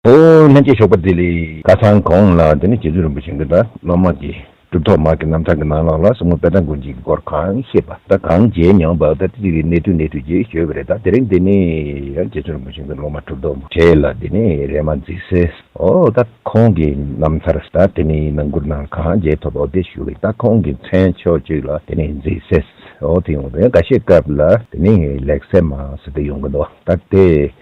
ཧོ། ལྷན་སྐྱེས་ཞོགས་པ་འདི་ལས། ཁ་སང་གོང་ལ་དེ་ནས་རྗེ་བཙུན་རིན་པོ་ཆེ་འདི་དང་སློབ་མ་དགེ་སྒྲུབ་ཐོག་མ་གི་རྣམ་ཐར་གི་ནང་ལོགས་ལ་ཟུག་རྔུ་དཔལ་དང་དགུན་འཇིག་གི་སྐོར་གང་ཤེས་པ་དང་གང་མཇལ་མྱོང་པ་དང་ཅི་ཞིག་གི་གནད་དུ་གནས་ཐུགས་རྗེས་ཞུ་བ་རེད་ད་དེ་རིང་འདི་ནས་ཡང་རྗེ་བཙུན་རིན་པོ་ཆེ་འདི་སློབ་མ་གྲུབ་ཐོག་མ་གྲས་ལ་དེ་ནས་རེ་མ་འཛིན་སེ་ཨོ་ད་ཁོང་གི་རྣམ་ཐར་དང་དེ་ནས་ནང་སྐུར་ནང་གང་མཇལ་ཐོབ་པ་དེ་ཞུ་གི་ད་ཁོང་གི་མཚན་ཕྱོགས་ཅིག་ལ་དེ་ནས་འཛིན་སེ་ཨོ་དེ་ཡོང་དོན་ག་ཤེས་སྐབས་ལ་དེ་ནས་ལེགས་སེ་མ་སེ་དེ་ཡོང་གི་འདུག་ད་དེ།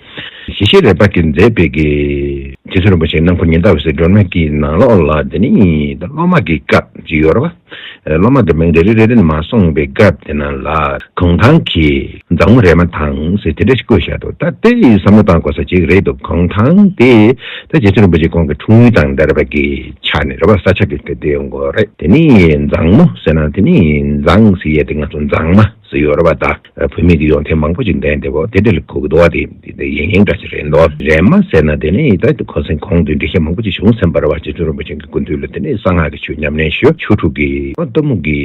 ཞི་ཞི་རས་པ་གིས་མཛད་པའི་དགེ། དེ་ཚུན་རིན་པོ་ཆེ་ནམ་མཁའ་ཉི་ཟླ་འོད་ཟེར་སྒྲོན་མེ་ཀྱི་ནང་ལོགས་ལ་དེ་ནི་སློབ་མ་གི་སྐབས་ཀྱི་ཡོལ་བ། སློབ་མ་དེ་མིང་རེ་རེ་རེ་རེ་ནས་མ་གསུངས་པའི་སྐབས་དེ་ན་ལ་གུང་ཐང་གི་མཛངས་མོ་རས་མ་དང་ཟེར་དེ་འདྲ་ཞིག་བཀོད་བཞག་འདུག་ད་དེ་བསམ་བློ་བཏང་དགོས་ས་ཅིག་རེད་འདུག་གུང་ཐང་དེ་ད་རྗེ་བཙུན་རིན་པོ་ཆེ་ཁོང་གི་འཁྲུངས་ཡུལ་དང་འདྲ་རས་པ་གི་ཆ་ནས་རས་པ་ས་ཆ་གི་དེ་འདྲའི་མགོ་རས་དེ་ནི་མཛངས་མོ་ཟེར་ན་དེ་ནི་མཛངས་ཟེར་ཡས་དེ་ང་ཚོ་མཛངས་མ་ཟེར་ཡོལ་བ་ད། བུད་མེད་ཀྱི་ཡོན་ཏན་མང་པོ་ཞིག་ལྡན་འདུག་དེ་འདྲ་ལས་ཁོ་གདུང་བ་དེ་འདི་ཡིན་ཡིན་འདྲ་ཞིག་རེད་འདོད། རེད་མ་ཟེར་ན་དེ་ནས་ཡི་དྭགས་ཀྱི་འཁོར་ཟིན་གོང་དུ་འགྲེལ་བཤད་མང་པོ་ཅིག་བྱུང་སེམས་དཔའ་ར་བ་རྗེ་བཙུན་རིན་པོ་ཆེན་གྱི་སྐུ་མདུན་ལ་དེ་ནས་གསང་སྔགས་ཀྱི་ཆོས་ཉམས་ལེན་ཞུ་ཆོས་དྲུག་གི་གཏི་མུག་གི་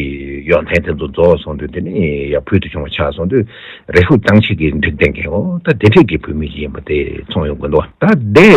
ཡོན་ཏན་དེ་ཚོ་རྫོགས་སོང་དུས་དེ་ནས་ཡང་ཕུལ་དུ་བྱུང་བ་ཆགས་སོང་དུས་རེ་ཧུ་ཏང་ཆེ་གེ་འགྲིག་ལྡན་གི་འོ་ད་དེ་འདྲས་ཀྱི་བུད་མེད་ཅིག་ཡིན་པ་དེ་ཚོང་ཡོང་དགོས་འདུག་ད་དེ་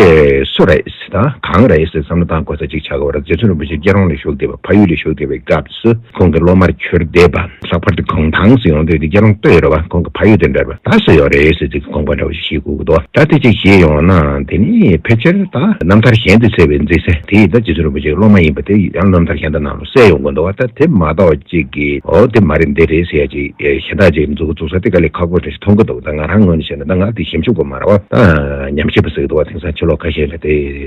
སུ་རེད་ད་གང་རེད་ཟེར་བསམ་བློ་བཏང་དགོས་ས་ཅིག་ཆགས་གི་འོ་ར་རྗེ་བཙུན་རིན་པོ་ཆེ་སྐྱེ་རོང་ལས་ཞུགས་བསྡད་པ་ཕ་ཡུལ་ལས་ཞུགས་བསྡད་པའི་སྐབས་སུ་ཁོང་གི་སློབ་མར་གྱུར་བསྡད་པ། ལྷག་པར་དུ་ཁོང་ཐང་སུ་ཡོང་འདོད་དེ་ཁྱེད་རང་ལྟོས་ཡོད་རེད་བ་ཁོང་གི་ཕ་ཡུལ་དེ་འདྲར་བ་ད་སུ་ཡོད་རེད་ཟེར་ཚུལ་གྱི་དགོངས་པ་འདྲ་བོ་ཞིག་བཞེས་དགོས་ཀྱི་འདུག་ད་དེ་ཅིག་བཞེས་ཡོང་ན་དེ་ནི་ཕལ་ཆེར་ད་རྣམ་ཐར་གཞན་དུ་གསལ་བའི་མཛེས་ས་དེ་ཡིས་ད་རྗེ་བཙུན་རིན་པོ་ཆེ་གི་སློབ་མ་ཡིན་པ་དེ་ཡང་རྣམ་ཐར་གཞན་དུ་ནང་ལ་གསལ་ཡོང་དགོས་འདུག་བ་ད་དེ་མ་གཏོགས་གཅིག་གིས་འོ་དེ་མ་རེད་འདི་རེད་ཟེར་ཡ་ཅིག་གཞན་དག་ཅིག་འཛུགས་འཛུགས་ས་དེ་ག་ལེ་ཁག་པོ་འདྲ་ཞིག་མཐོང་གི་འདུག་ད་ང་རང་ངོས་ནས་བཤད་ན་ད་ང་དེ་ཞིབ་འཇུག་གོ་མ་ར་བ་ད་ཉམས་ཞིབ་པ་ཟེར་གྱི་འདུག་བ་དེང་སང་ཕྱི་ལོགས་ཁ་ཤས་ལ་དེ།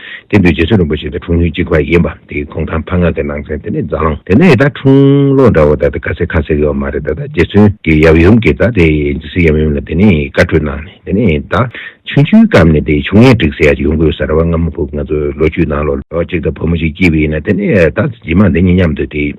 དེ་དུས་རྗེ་བཙུན་རིན་པོ་ཆེ་དང་འཁྲུངས་ཡུལ་གཅིག་པ་ཡིན་པ་དེའི་གུང་ཐང་ཕ་ངག་གི་ནང་ཚན་དེ་ནི་རྫ་ལང་དེ་ནི་ད་འཁྲུངས་ལོ་འདྲ་བོ་ད་ལྟ་ཁ་ཟས་ཁ་ཟས་ཀྱི་བ་མ་རེད་ད་ལྟ་རྗེ་བཙུན་གྱི་ཡབ་ཡུམ་གྱི་རྫ་དེ་ཇི་སྲིད་ཡབ་ཡུམ་ལ་དེ་ནི་བཀའ་ཁྲོལ་གནང་ནས་དེ་ནི་ད་ཆུང་ཆུང་སྐབས་ནས་དེ་ཆུང་ངེ་འགྲིག་ཟེར་ཡ་ཡོང་གི་ཡོད་ས་ར་བ་ང་མ་ཕུག་ང་ཚོ་ལོ་རྒྱུས་ནང་ལོ་ལོ་གཅིག་ད་བུ་མོ་ཞིག་སྐྱེས་པ་ཡིན་ན་དེ་ནི་ད་ཇི་མ་དེ་ཉིད་མཉམ་དུ་དེ།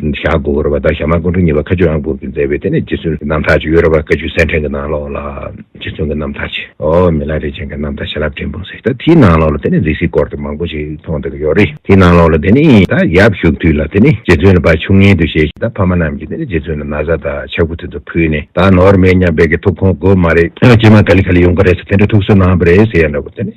ཞྭ་སྒོ་བོར་བ་དང་ཞྭ་མ་སྒོ་འགྲོ་གཉིས་པ་ཁ་ཆུ་ཨང་སྤུར་གྱིས་མཛད་པའི་དེ་ནས་རྗེ་བཙུན་གྱི་རྣམ་ཐར་ཅིག་ཡོད་རབས་པ་ཀ་ཆུ་སེར་འཕྲེང་གི་ནང་ལོགས་ལ། རྗེ་བཙུན་གྱི་རྣམ་ཐར་ཅིག་ཨོ་མི་ལ་རས་ཆེན་གྱི་རྣམ་ཐར་བྱིན་རླབས་སྤྲིན་ཕུང་ཟེར་ད་དེའི་ནང་ལོགས་ལ་དེ་ནས་རྫིག་སིལ་སྐོར་དུ་མང་པོ་ཞིག་མཐོང་ཐུབ་ཀྱི་ཡོད་རེད་དེའི་ནང་ལོགས་ལ་དེ་ནས་ད་ཡབ་བཞུགས་དུས་ལ་དེ་ནས་རྗེ་བཙུན་ལ་བ་ཕྱུགས་ངན་དུ་བྱས་ཤིང་ད་ཕ་མ་རྣམས་ཀྱིས་དེ་ནས་རྗེ་བཙུན་ལ་ན་བཟའ་དང་ཆབ་གུ་དེ་ཚོ་ཕུལ་ནས་ད་ནོར་མེད་སྙམ་པའི་གི་ཐུགས་ཁོང་དགོས་མ་རེད་ཀྱེ་མ་ག་ལི་ཁ་ལི་ཡོང་གི་རེད་ཟེར་དེ་འདྲའི་ཐུགས་སུ་སྣང་བ་རེད་ཟེར་ཡ་འདྲ་བོ་དེ་ནས།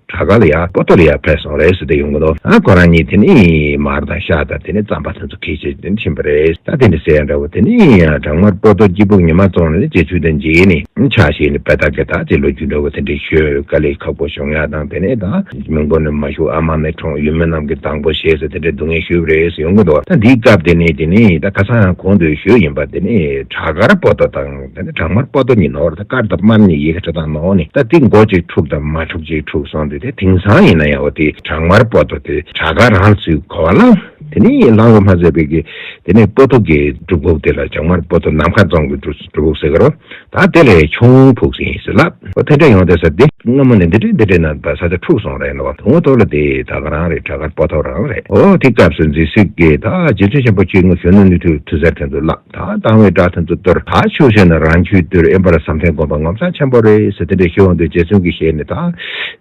བྲག་དཀར་ལ་ཡ་པོ་ཏོ་ལ་ཡ་ཕེབས་སོང་རེད་ཟེར་དེ་ཡོང་གི་འདུག་ཨ་ཁོ་རང་གཉིས་དེ་ནས་མར་དང་ཤ་དང་དེ་ནས་རྩམ་པ་དེ་ཚོ་ཁྱེར་ཆེད་དེ་ནས་ཕྱིན་པ་རེད་ད་དེ་འདྲ་ཟེར་ཡ་འདྲ་བོ་དེ་ནས་བྲག་དམར་པོ་ཏོ་སྐྱིད་པོ་ཉི་མ་བཙོང་ནས་རྗེས་ཆུ་དང་འབྱེད་ནས་ཆ་བཞེས་ནས་བལ་དག་གི་དག་ཅིག་ལོ་རྒྱུས་འདྲ་བོ་དེ་འདྲ་ཤོད་ག་ལེ་ཁག་པོ་བྱུང་ཡ་དང་དེ་ནས་དང་མིང་པོ་ནས་མ་ཞུ་ཨ་མ་ནས་ཁྲོང་ཡུལ་མི་རྣམས་ཀྱི་དང་པོ་བྱེད་ཟེར་དེ་འདྲ་སྡུག་བསྔལ་ཞུས་པ་རེད་ཟེར་ཡོང་གི་འདུག་ད་འདིའི་སྐབས་དེ་ནས་དེ་ནས་ད་ཁ་སང་གོང་དུ་ཞུས་ཡིན་པ་དེ་ནས་བྲག་དཀར་པོ་ཏོ་དང། ད་ནི་བྲག་དམར་པོ་ཏོ་ཉིད་ནོར་དང་དཀར་དང་དམར་ནི་ཡི་གེ་དྲུག་དང་ནོར་ནི་ད་ཏིག་མགོ་གཅིག་འཁྲུགས་དང་མ་འཁྲུགས་གཅིག་འཁྲུགས་སོང་སྟེ་དེ་དེང་སང་ཡིན་ན་ཡང་བ་དེ་བྲག་དམར་པོ་ཏོ་དེ་བྲག་དཀར་རང་ཚུད་གོ་བ་ལང་དེ་ནི་ལང་བ་མ་ཟད་པའི་གི་དེ་ནི་པོ་ཏོ་གི་སྒྲུབ་ཕུག་དེ་ལ་བྱང་དམར་པོ་ཏོ་ནམ་མཁའ་རྫོང་གི་སྒྲུབ་ཕུག་ཟེར་གི་རོ་ད་དེ་ལས་ཆུང་ཕུག་ཟེར་ཡིན་ཟེར་ལ་བ་ཐེ་འབྲས་ཡོང་སྟེ་ཟེར་ཏེ། སྔ་མོ་ནས་འདི་བྲིས་འདི་བྲིས་ན་བ་ས་ཆ་འཁྲུགས་སོང་རེད་ན་བ་དུང་བ་ཐོབ་ལ་དེ་བྲག་དཀར་རང་རེད་བྲག་དཀར་པོ་ཏོ་རང་རེད་ཨོ་དེ་སྐབས་སུ་མཛེས་སུས་ཀྱིས་ད་རྗེ་བཙུན་ཆེན་པོ་ཁྱོད་ངུ་ཞོན་ནུ་ནུས་མཐུ་མཐུ་ཟེར་དོན་དུ་བླངས། དང་སྡང་བའི་དགྲ་དང་དུ་གཏོར་ད་ཆོས་བྱས་ན་རང་ཁྱོད་དུས་ཨེ་འབར་བཟའ་མཐའི་དགོན་པ་ངོ་མཚར་ཆེན་པོ་རེད་ཟེར་དེ་འདྲའི་ཤེས་དབང་དུ་རྗེ་བཙུན་གྱི་ཞལ་ནས་ད་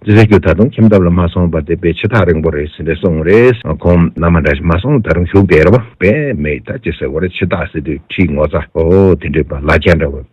ཅི་ཟེར་རྒྱུ་ད་དུང་ཁྱིམ་ཐབ་ལ་མ་སོང་བར་དེ་པས་ཕྱི་ཐག་རིང་པོ་རེད་ཟེར་ནས་སོང་རེད་ཁོང་མནའ་མ་འདྲ་ཞིག་མ་སོང་ད་རུང་བཞུགས་བསྡད་རེད་བ། བས་མེད་ད་ཅི་ཟེར་བ་རེད་ཕྱི་ཐག་ཟེར་དུས་ཁྲིའི་ངོ་ཚ་ཨོ་དེ་འདྲའི་པ་ལ་རྒྱ་འདྲ་བ།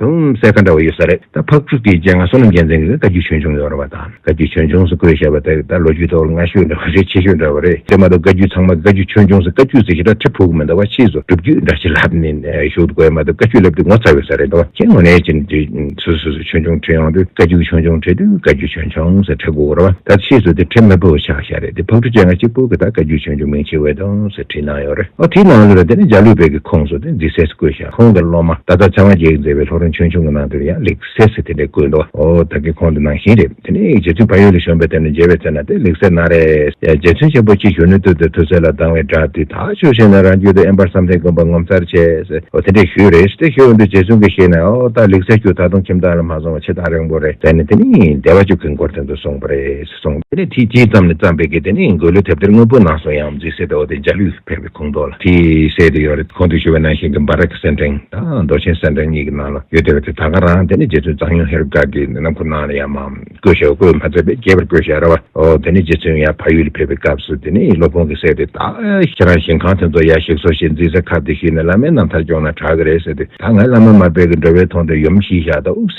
གོང་གསལ་ཁ་འདྲ་བ་ཡོད་ས་རེད་ད་ཕག་ཕྲུག་གི་རྗེས་ང་བསོད་ནམས་རྒྱལ་མཚན་གྱི་བཀའ་རྒྱུད་ཆོས་འབྱུང་ཡོད་རེད་བ་དང་བཀའ་རྒྱུད་ཆོས་འབྱུང་སུ་བཀོད་བཞག་པ་དེ་ད་ལོ་རྒྱུས་ཐོག་ལ་སྔ་ཤོས་འདྲ་བ་རེད་ཕྱི་ཤོས་འདྲ་བ་རེད་དེ་མ་གཏོགས་བཀའ་རྒྱུད་ཚང་མ་བཀའ་རྒྱུད་ཆོས་འབྱུང་སུ་བཀའ་རྒྱུད་ཟེར་ཞེ་དྲག་ཁྲི་ཕུག་མི་འདྲ་བ་ཕྱིས་སུ་སྒྲུབ་རྒྱུད་འདྲ་ཞིག་ལབ་ནས་བཞུགས་འདུག་བས་མ་གཏོགས་བཀའ་རྒྱུད་ལབ་དུས་ངོ་ཚ་ཡོད་ས་རེད་ད་ཁྱེད་ངོ་ནས་ཅི་འདྲི་སུ་སུ་སུ་ཆོས་འབྱུང་ཁྲི་ཡོང་དུས་བཀའ་རྒྱུད་ཆོས་འབྱུང་ཁྲི་དུས་བཀའ་རྒྱུད་ཆོས་འབྱུང་ཟེར་ཁྲི་གོ་རེད་བ་ད་ཕྱིས་སུ་དེ་ཁྲི་མི་བུ་ཆགས་ཤ་རེད་དེ་ཕག་ཕྲུག་བཅས་ང་གཅིག་པུ་གི་ད་བཀའ་རྒྱུད་ཆོས་འབྱུང་མིང་ཆེ་བས་དང་ཟེར་བྲིས་གནང་ཡོད་རེད་ཨོ་དེའི་ནང་ལོ་རེད་དེ་ནས་འཇའ་ལུས་བེད་ཀྱི་ཁོངས་སུ་དེ་འཛིན་སའི་སུ་བཀོད་བཞག། ཁོང་གི་སློབ་མ་ད་ལྟ་ཚེ་དབང་རྒྱལ་མཛད་པའི་ལྷོ་རོང་ཆོས་འབྱུང་གི་ནང་དུ་ཡང་ལེགས་གསལ་ཟེར་དེ་འདྲའི་དགོས་འདུག་ཨོ་ད་གི་ཁོང་དུ་ནང་བཞིན་རེད་དེ་ནས་རྗེ་བཙུན་བལ་ཡུལ་ལས་བྱོན་པའི་དེབ་ནས་མཇལ་བའི་ཚེ་ན་དེ་ལེགས་གསལ་ན་རེ། རྗེ་བཙུན་ཆེན་པོ་སྐྱིད་གཞོན་ནུའི་སྟོད་དུ་ཐུགས་སྲས་ལ་སྡང་བའི་དགྲ་དེས་ཐག་ཆོད་བྱས་ནས་རང་རྒྱུད་དུ་ཨེ་འབར་བསམ་གཏན་དགོན་པར་ངོ་མཚར་ཆེ། ཨོ་དེ་འདྲའི་ཞུས་རེད་དེ་ཞུས་འོན་ཏེ་རྗེ་བཙུན་གྱིས་ཤེས་ནས་ཨོ་ད་ལེགས་གསལ་ཁྱོད་ད་དུང་ཁྱིམ་བདག་ལ་མ་སོང་བ་ཕྱི་ཐག་རིང་པོ་རེད་ཟེར་ནས་དེ་ནས་སྡེ་བ་བཅུ་གི་འགོར་ཐོན་དུ་སོང་བ་རེད། སོང། དེ་ནས་ཐིག་གཅིག་ཙམ་ནས་བརྩམས་པའི་གེ་དེ་ནི་འགོས་ལོའི་དེབ་ཐེར་དངོས་པོའི་ནང་སོང་ཡང་རྫིས་གསེར་དུ་འོ་དེ་འཇའ་ལུས་སུ་ཕེབས་པའི་ཁུངས་རྟོགས་ལ་དེའི་གསེར་དེ་ཡོད་རེད་ཁོང་དུ་ཞུ་བའི་ནང་བཞིན་གྱི་འབར་རེག་གི་གསེར་འཕྲེང་དང་རྡོ་ཆེན་གསེར་འཕྲེང་གཉིས་ཀྱི་ནང་ལ་ཡོད་བསྡད་པ་དེ་ད་ག་རང་དེ་ནི་རྗེ་བཙུན་གཙང་གཡུང་ཧེ་རུ་ཀ་གི་ནང་ཁུངས་ནང་ལ་ཡང་མ་བཀོད་ཞེས་བཀོད་མ་མཛད་པས་རྒྱས་པར་བཀོད་ཞེས་ར་བ་འོ་དེ་ནི་རྗེ་བཙུན་ཡང་ཕ་ཡུལ་ལ་ཕེབས་པའི་སྐབས་སུ་དེ་ནི་སློབ་དཔོན་གྱི་གསེར་དེ་ད་ཁྱེད་རང་ཞིང་ཁང་དེ་ཚོ་ཡར་ཞིག་གསོ་ཞེས་རྫིས་གསེར་ཁབ་དེ་ཞུས་ནས་བླ་མའི་རྣམ་ཐར་སྐྱོང་ན་དྲག་གི་རེད་ཟེར་དུས་ད་ང་བླ་མ་མ་དཔལ་གྱི་འགྲོ་བས་མཐོང་དུས་ཡུམ་ཤིག་ཤག་དང་དབུགས་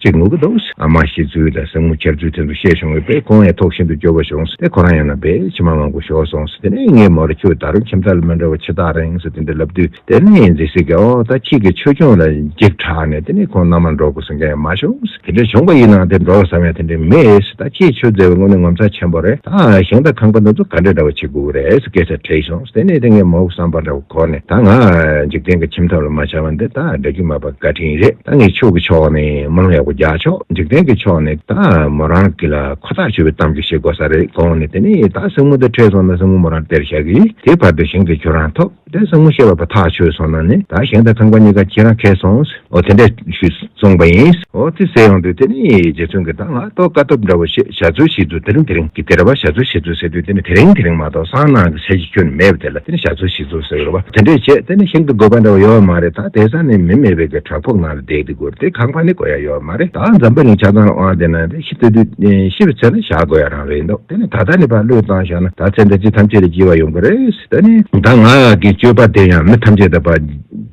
ཅིག་ངུ་གི་འདུག་ཨ་མ་ཤི་ཚུལ་དང་སྲིང་མོ་ཁྱེར་ཚུལ་དེ་ཚོ་བཤད་བྱུང་བས་པས་ཁོང་ཡང་ཐོག་ཤིན་ཏུ་སྐྱོ་བོ་བྱུང་བས་ཁོ་རང་ཡང་ན་པས་ཕྱི་མ་མང་པོ་ཤོར་སོང་དེ་ནས་ངའི་མོར་ཁྱོད་ད་རུང་ཁྱིམ་བདག་ལ་མི་འདྲ་བ་ཕྱི་ཐག་རིང་སོ་དེ་འདྲ་ལབ་དུས་དེ་ནས་ཡིན་ཟེར་སྲིད་ཀྱི་ཨོ་ད་ཁྱེད་ཀྱི་ཆོས་སྐྱོང་ལ་འཇིགས་དྲགས་ནས་དེ་ནས་ཁོང་མནའ་མར་འགྲོ་དགོས་ཟེར་མཁན་ཡང་མ་བྱུང་དེ་འདྲ་བྱུང་བ་ཡིན་ནའང་དེར་འགྲོ་བ་ཟ་བ་ཡང་དེ་འདྲའི་མེད་ད་ཁྱེད་ཆོས་མཛད་པའི་སྔོན་ནི་ངོ་མཚར་ཆེན་པོ་རེད་ད་ཞིང་དང་ཁང་པ་འདི་ཚོ་ག་འདྲ་འདྲ་བ་བྱེད་དགོས་རེད་ཀྱེ་ས་དྲིས་བྱུང་དེ་ནས་དེ་ངའི་མོར་བསམ་པ་འདྲ་གོ་ནས་ད་ང་འཇིག་རྟེན་གྱི་ཁྱིམ་ཐབ་ལ་མ་བྱ་བ་འདི་ད་སྒྲ་སྒྱུ་མ་པ་བཀའ་དྲིན་རེད་ད་ངས་ཆོས་ཀྱི་ཕྱོགས་ནས་མང་ཡག་པོ་རྒྱག་ཆོག་འཇིག་རྟེན་གྱི་ཕྱོགས་ནས་ད་མོ་རང་གི་ལ་ཁོ་ཐག་ཆོད་པའི་གཏམ་གྱི་བཤད་དགོས་ས་རེད་གོ་ནས་དེ་ནས་ད་སྲིང་མོ་འདི་ཁྲེས་སོང་ན་སྲིང་མོ་མོ་རང་དེར་བཞག་གི་དེའི་བར་དུ་ཞིང་དེ་ཁྱོད་རང་ཐོབ་དེ་སྲིང་མོ་བཤད་པ་པ་ཐག་ཆོད་སོང་ན་ནས་ད་ཞིང་དང་ཁང་པ་གཉིས་ཀ་ཁྱེད་རང་ཁེ་སོང། འོ་དེ་འདྲ་ཞུས་གསུངས་པ་ཡིན། འོ་དེ་ཟེར་ཡོང་དུས་དེ་ནི་རྗེ་བཙུན་གྱི་གདངས་ལ་གཏོགས་དཀའ་ཐུབ་འདྲ་བོ་ཞེས་བྱ་ཚུལ་ཞིག་འདུག་དེ་རིང་དེ་རིང་གི་དེར་བ་བྱ་ཚུལ་ཞིག་འདུག་ཟེར་དུས་དེ་ནི་དེ་རིང་དེ་རིང་མ་གཏོགས་སང་གནངས་ཀྱི་ཚེ་ཞིག་ཁྱོད་ནི་མེད་པ་དེ་ལ་དེ་ནི་བྱ་ཚུལ་ཞིག་འདུག་ཟེར་བ་དེ་འདྲའི་རྗེས་དེ་ནི་ཤིན་ཏུ་དགོས་པ་འདྲ་བོ་ཡོད་མ་རེད་ད་དེ་སང་ནི་མི་མེད་པའི་གི་བྲག་ཕུག་ནང་ལ་བསྡད་དུས་གུར་དེ་གང་བ་ནི་དགོས་ཡ་ཡོད་མ་རེད་ད་འཛམ་བུ་གླིང་ཆགས་སྡང་དབང་དེ་ནང་དེ་ཤི་དུས་དུས་ཤི་བའི་ཚེ་ན་བཞག་དགོས་ཡ་རང་རེད་འདུག་དེ་ནི་ད་ལྟ་ནི་བ་བློས་བཏང་ཞོག་ན་ད་ཚེ་འདི་ཅི་ཐམས་ཅད་ལས་སྐྱིད་བ་ཡོང་གི་རེད་ད་ནི་ད་ང་གི་སྤྱོད་པ་དེ་ཡང་མི་ཐམས་ཅད་དང་བ།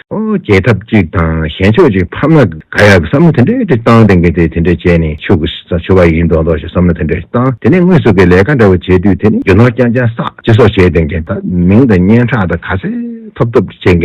རྒྱལ་ཐབས་གཅིག་དང་གཞན་ཕྱོགས་གཅིག་ཕབ་ན་དགའ་ཡག་གི་བསམ་བློ་དེ་འདྲའི་ཏིག་ཏང་དེ་འགས་དེ་དེ་འདྲའི་བྱས་ནས་ཆོག་གི་ས་ཆོད་པ་ཡིན་མདོག་མདོག་བྱས་བསམ་བློ་དེ་འདྲའི་བཏང་དེ་ནས་དངོས་སུ་གི་ལས་ཀ་འདྲ་བོ་བྱས་དུས་དེ་ནས་རྒྱུ་ནོར་རྐྱང་རྐྱང་བསགས་ཅི་སོགས་བྱས་དེ་འགས་ད་མིང་དང་སྙན་གྲགས་དང་ག་ཚད་ཐོབ་ཐོབ་བྱས་འགས་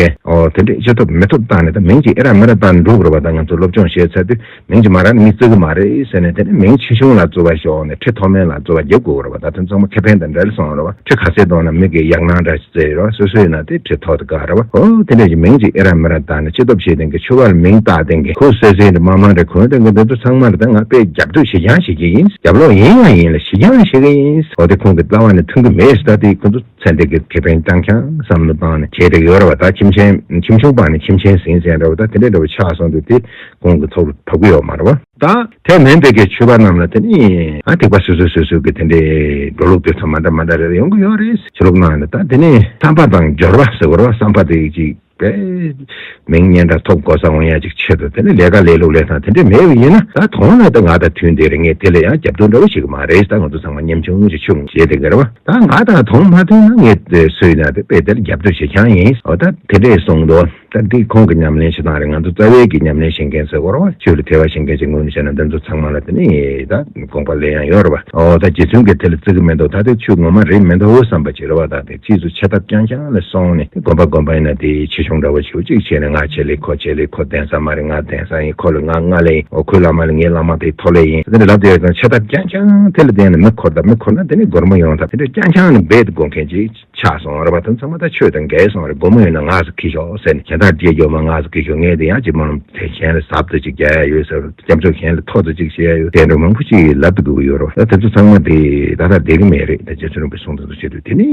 དེ་འདྲའི་ཅི་ཐོབ་མི་ཐོབ་བཏང་ནས་ད་མིང་གཅིག་ཨེ་རག་མི་རག་བཏང་ནས་འགྲོ་དགོས་པ་ད་ང་ཚོ་སློབ་སྦྱོང་བྱས་ཚར་དུས་མིང་ཅི་མ་རག་ནི་མིག་བཙུར་གི་མ་རེད་ཟེར་ནས་དེ་ནས་མིང་ཆེ་ཆུང་ལ་བཙུར་བ་ཞོག་ནས་ཁྲི་ཐོག་མེད་ལ་བཙུར་བ་རྒྱབ་དགོས་རེད་བ་ད་ཐེངས་ཚང་མ་ཁེ་ཕན་དང་འདྲ་རེད་སོང་རེད་བ་ཁྲི་ག་སའི་གདོང་ན་མིག་གི་ཡག་སྣང་འདྲ་ཞིག་བཙིར་རེད་བ་སོ་སོའི་ཡིན་ན་དེ་ཁྲི་ཐོག་དེ་དགའ་རེད་བ་ཧོ་དེ་འདྲ་ཞིག་མིང་ཅིག་ཨེ་རག་མི་རག་བཏགས་ནས་ཆེ་སྟོབས་བྱེད་དེང་གི་ཆོས་བར་ལ་མིང་བཏགས་དེང་གི་ཁུ་སེར་སེར་འདྲ་མང་མང་འདྲ་གོན་དེང་གི་འདི་ཚོ་ཚང་མར་དེ་ང་དཔེ་རྒྱབ་གཏོད་བྱེད་རྐྱང་བྱེད་ཀྱི་ཡིན་རྒྱབ་ལོག་ཡིན་ཡང་ཡིན་ལ་བྱེད་རྐྱང་བྱེད་ཀྱི་ཡིན་ཨོ་དེ་ཁོང་གི་རྩ་བ་ནས་མཐུན་གི་མེད་ཟེར་ད་དེ་ཁོང་ཚོ་ཚན་རིག་གི་ཁེ་ཕན་རྐྱང་རྐྱང་བསམ་བློ་བཏང་ནས་བྱེད་དེ་ཡོད་རེད་བ་ད་ཁྱིམ་ཆེན་ཁྱིམ་ཆུང་པ་ནས་ཁྱིམ་ཆེན་ཟིན་ཟིན་རེད་བ་ད་དེ་འདྲ་འདྲ་བ་ཆགས་སོང་དུས་དེ་གོང་གི་ཚོགས་ལ་དོ་གུ་ཡོག་མ་ར་བ། དང། དེ་མིན་དེ་གའི་ཆོས་པ་རྣམས་ལ་དེ་ནི། ཨ་ཐེག་པ་སོ་སོས་སོ་སོའི་གི་དེ་འདྲའི་འགྲོ་ལུགས་དེ་ཚོ་མ་འདྲ་མ་འདྲ་རེ་རེ་ཡོང་གི་ཡོག་རེད་ཟེར་ལུགས་གནང་ཡོད་ད་དེ་ནི། བསམ་པ་དང་སྦྱོར་བ་ཟེར་བར་བ་བསམ་པ་དེ་གཅིག་པས། མིང་སྙན་གྲགས་ཐོབ་འགོ་ས་འོང་ཡ་གཅིག་ཆེད་དུ་དེ་ནི་ལས་ཀ་ལས་ལུགས་ལས་སྟངས་དེ་འདྲའི་མེད་བ་ཡིན་ན་ད་དོང་ན་ད་ང་དང་དུས་འདིར་ངས་དེ་ལ་ཡང་རྒྱབ་གཏོད་འདྲ་བོ་བྱེད་གི་མ་རེད་ད་ང་ཚོ་ཚང་མ་མཉམ་ཆུང་ངུ་ཞིག་ཆུ་ངུ་ཞིག་བྱས་དེ་ག་རེ་བ་ད་ང་དང་དོང་མ་མཐུན་ན་ངས་སུ་ཡིན་ན་དེ་དཔེ་དེར་རྒྱབ་གཏོད་བྱེད་ཁྱང་ཡིན་འོ་ད་དེ་འདྲས་སོང་དོ། སྟབས་བདེའི་ཁོང་གི་ཉམས་ལེན་ཞེ་སྡང་རེད་ང་ཚོ་རྩ་བའི་གི་ཉམས་ལེན་བྱེད་མཁན་ཚོའི་སྐོར་བ་ཅོ་རི་ཐེ་བ་བྱེད་མཁན་གྱི་ངོས་ནས་བཤད་ན་འདི་ཚོ་ཚང་མ་ལ་དེ་ནི་ད་དགོངས་པ་ལས་ཡང་ཡོད་རེད་པ་འོ་ད་རྗེ་བཙུན་གྱི་དེ་ལ་བརྩི་གི་མེད་འདུག་ད་དེ་ཆོས་ངོ་མ་རེད་མི་འདུག་བསམ་པ་ཅིག་རེད་བ་ད་དེ་ཕྱིས་སུ་ཆེ་ཐབས་རྐྱང་རྐྱང་ལ་སོང་ནས་དེ་དགོངས་པ་དགོངས་པ་ཡིན་ན་དེ་ཆེ་ཆུང་འདྲ་བོ་ཆུ་གཅིག་བྱས་ནས་ང་ཆེ་ལས་ཁོ་ཆེ་ལས་ཁོ་གདན་ས་མ་རེད་ང་གདན་ས་ཡིན་ཁོ་ལས་ང་ང་ལས་ཡིན་འོ་ཁོའི་བླ་མ་ལས་ངའི་བླ་མ་དེ་ཐོ་ལས་ཡིན་དེ་འདྲ་ལབ་དེ་ཡོད་ཀྱང་ཆེ་ཐབས་རྐྱང་རྐྱང་དེ་ལ་བརྟེན་ནས་མི་འཁོར་ད་མི་འཁོར་ན་དེ་ནི་སྒོར་མོ་ཡོང་ཐབས་དེ་འདྲ་རྐྱང་རྐྱང་ནི་འབད་དེ་དགོངས་མཁན་གྱི། ཆགས་སོང་ར་བ་དང་ཚང་མ་ད་ཆོས་དང་འགལ་སོང་ར་སྒོར་མོ་ཡོད་ན་ང་ཟ་གི་ཤོག་ཟེར་ནས་གཞན་དག་རྗེས་འཇོག་མ་ང་ཟ་གི་ཤོག་ངས་དེ་ཡག་ཅིག་མང་ཚེ་གཞན་ལ་ཟབ་ཏུ་ཅིག་རྒྱག་ཡ་ཡོད་ཟེར་རོ་རྒྱབ་ཕྱོགས་གཞན་ལ་ཐོག་ཏུ་ཅིག་བྱེད་ཡ་ཡོད་དེ་འདྲ་མང་པོ་ཅིག་ལབ་ཏུ་དགོས་ཀྱི་ཡོད་རོ་ད་དེ་ཚོ་ཚང་མ་དེ་ད་ལྟ་བསྡད་ཀྱི་མེད་རེད་ད་རྗེ་བཙུན་རིན་པོ་སྲུང་ཙམ་ཙམ་བྱེད་དུས་དེ་ནས་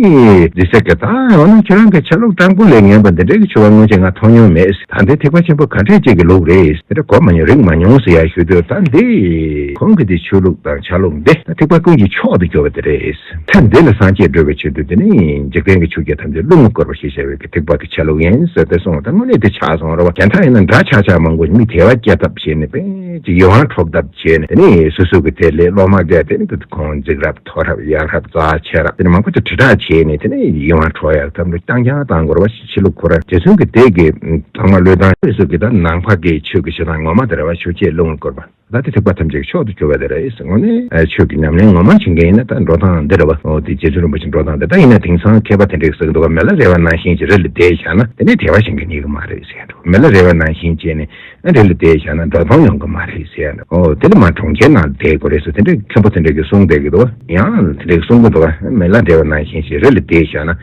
རྗེ་སེ་གེ་དང་འོ་ན་ཁྱོད་རང་གི་ཆ་ལུགས་སྤྲང་པོ་ལས་ངན་པ་འདི་འདྲ་གི་ཆུ་བ་སྔོན་ཆད་ང་མཐོང་མྱོང་མེད་ཟེར་ད་འདི་ཐེག་པ་ཆེན་པོ་ག་འདྲས་ཅིག་གི་ལུགས་རེད་འདི་འདྲ་གོ་མ་མྱོང་རིག་མ་མྱོང་ཟེར་ཡ་ཞུ་དུས་ད་འདི་ཁོང་གི་འདི་ཆོས་ལུགས་དང་ཆ་ལུགས་འདི་ད་ཐེག་པ་ཀུན་གྱི་མཆོག་ཏུ་གྱུར་པ་འདི་རེད། ཐེངས་འདི་ལ་སངས་རྒྱས་སྒྲོལ་བའི་ཆེད་དུ་འདི་ནི་འཇིག་རྟེན་གྱི་ཆུ་རྒྱ་ཐམས་ཅད་རླུང་ལ་བསྐོར་བ་ཞེས་བྱ་བའི་གི་ཐེག་པ་དེ་ཆ་ལུགས་ཡིན་ཟེར་ཏེ་གསུངས་ལ་ད་དངོས་གནས་དེ་ཆ་ཚང་ར་བ་གན་ད་ཡིན་ན་འདྲ་ཆག་ཆག་མང་པོ་མི་དེ་བ་སྐྱེ་ཐབས་བྱེད་ནི་པེ་ཅིག་ཡིད་དབང་འཕྲོག་ཐབས་བྱེད་ནི་དེ་ནི་སུ་སུ་གི་དེ་ལས་སློབ་མ་འགས་དེ་ནི་དུ་ཁོང་འཇིགས་རབ་མཐོ་རབ་ཡག་རབ་རྩ་ཆེ་རབ་དེ་ནི་མང་པོ་དེ་དྲིལ་བསྒྲགས་བྱེད་ནི་དེ་ནི་ཡིད་དབང་འཕྲོག་ཡག་ཐབས་འདུག་རྐྱང་རྐྱང་དང་འགོར་བ་ཞིག་བྱེད་ལུགས་ཁོ་རང་རྗེ་བཙུན་གི་དེ་གི་ཚང་མ་བློས་བཏང། སུ་སུ་གི་དང་ནང་བྷ་གའི་ཆོས་ཀྱི་ཞེ་སྡང་ངོ་མ་དེ་ར་བ་ཆུ་སྐྱེས་རླུང་ལ་བསྐོར་བ། བདག་གི་ཐེག་པ་ཐམས་ཅད་ཀྱི་མཆོག་ཏུ་གྱུར་པ་དེ་རེད་ཟེར་ངོ། ཆོས་ཀྱི་ཉམས་ལེན་ངོ་མར་བྱེད་མཁན་ཡིན་ན་ད་འགྲོ་སྟངས་འདི་རེད་བ། འོ་དེ་རྗེ་བཙུན་རིན་པོ་ཆེ་འགྲོ་སྟངས་འདི་ལྟར་ཡིན་ན་དེང་སང་མཁས་པ་དེ་འདྲས་ཟེར་གི་འདུག་ག་མེ་ལ་རས་བ་ནང་བཞིན་གྱི་རི་ལ་བསྡད་བཞག་ན་དེ་འདྲས་དལ་བ་ཞིག་འགྲིག་ངེས་ཀྱི་མ་རེད་ཟེར་འགྲོ། མེ་ལ་རས་བ་ནང་བཞིན་བསྐྱེལ་ནས་རི་ལ་བསྡད་བཞག་ན་འགྲོ་སྟངས་ཡོང་གི་མ་རེད་ཟེར་འགྲོ། འོ་དེ་ལས་མ་གྲོང་ཁྱེར་ནང་བསྡད་དགོས་རེད་ཟེར་དེ་འདྲས་མཁན་པོ་དེ་འདྲས་ཀྱིས་གསུངས་བསྡད་ཀྱི་འདུག་ག། ཡང་དེ་འདྲས་གསུངས་ཀྱི་འདུག་ག་མེ་ལ་རས་བ་ནང་བཞིན་གྱི་རི་ལ་བསྡད་བཞག་ན།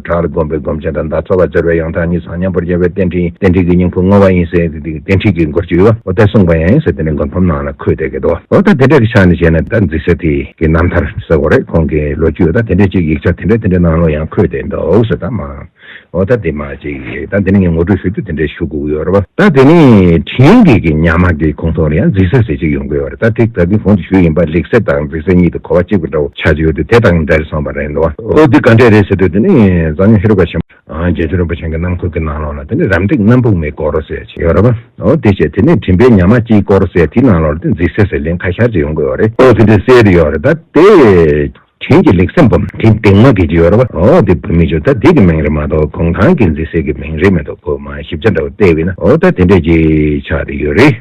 གྲགས་ལ་བསྒོམས་པའི་སྒོམ་ཆེན་དང་བརྡ་རྩ་བར་སྦྱར་བའི་ཡང་དག་ཉིད་སངས་མཉམ་པོར་རྒྱལ་བའི་རྟེན་འབྲེལ་ཡིན་རྟེན་འབྲེལ་གྱི་སྙིང་པོ་བསྔོ་བ་ཡིན་ཟེར་ཏེ་དེ་རྟེན་འབྲེལ་གྱི་མགོར་བརྗོད་ཡུལ་བ་ཨོ་ཏའི་གསུང་པ་ཡང་ཡིན་ཟེར་ཏེ་ནི་མགོ་འཕམ་ནང་ལ་འཁོད་བསྡད་ཀྱི་འདུག་ཨོ་ཏ་དེ་འདྲ་གི་ཆ་ནས་བྱས་ན་བདག་འཛིན་ཟེར་དེ་གི་རྣམ་ཐར་ཟེར་བ་རེད་ཁོང་གི་ལོ་རྒྱུས་ཨོ་ཏ་དེ་འདྲ་གཅིག་ཡིག་ཆ་དེ་འདྲ་དེ་འདྲའི་ནང་ལ་ཡང་འཁོད་བསྡད་འདུག་ཟེར་ད་མ་ཨོ་ཏ་དེ་མ་གཅིག་ཡིན་ད་འདི་ནི་ངས་ངོ་སྤྲོད་ཞུ་རྒྱུ་དེ་འདྲའི་ཞུ་དགོས་ཀྱི་ཡོད་རེད་བ་ད་དེ་ནི་དྲིན་གྱིས་ཀྱི་ཉག་མ་གི་ཁུངས་ཐོག་ལ་ཡང་འཛིན་ཟེར་ཟེར་གཅིག་ཡོང་གི་ཡོད་རེད་ད་དེ་ད་དེ་གོང་དུ་ཞུས་ཡིན་པ་ལེགས་ཟེར་དང་འཛིན་ཟེར་གཉིས་དེ་གོ་བ་གཅིག་པ་འདྲ་བོ་ཆགས་ཀྱི་ཡོད་དུས་དེ་དང་འདྲ་རེ་སོང་བ་རེད་འདུག་བ། ཨོ་འདི་ག་འདྲས་རེད་ཟེར་དུས་དེ་ནི་གཙོ་གཉེར་ཧེ་རུ་ཀ་ཆེན་པོ་རྒྱལ་མཚན་རིན་པོ་ཆེན་གྱི་གནམ་ཁུག་གི་ནང་ལོགས་ལ་དེ་ནི་རམ་འདེགས་གནམ་ཕུག་མའི་སྐོར་ཟེར་ཅིག་ཡོད་རེད་པ། ཨོ་དེ་ཆད་དེ་ནི་དྲིན་པའི་ཉག་མ་སྐྱིའི་སྐོར་ཟེར་དེའི་ནང་ལོགས་ལ་དེ་འཛིག་སེ་ཟེར་ལིང་ག་ཤར་ཅིག་ཡོང་གི་ཡོད་རེད། ཨོ་དེ་འདྲས་གསལ་རེད་ཡོད་རེད་ད་དེ། དྲིན་གྱི་ལེགས་སེམས་བུམ་དེ་འདེགས་མ་དགོས་ཀྱི་ཡོད་རེད་པ། ཨོ་དེ་བུད་མེད་ཆུ་ད་དེ་གི་མིང་རེད་མ་གཏོགས་གུང་ཐང་གི་འཛིག་སེ་གི་མིང་རེད་མི་འདུག་ཁོ་མ་ཞིབ་ཆ་འདྲ་བོ་བལྟས་བས་ན་ཨོ་ད་དེ་འདྲས་ཅིག་ཆགས་དེ་ཡོད་རེད།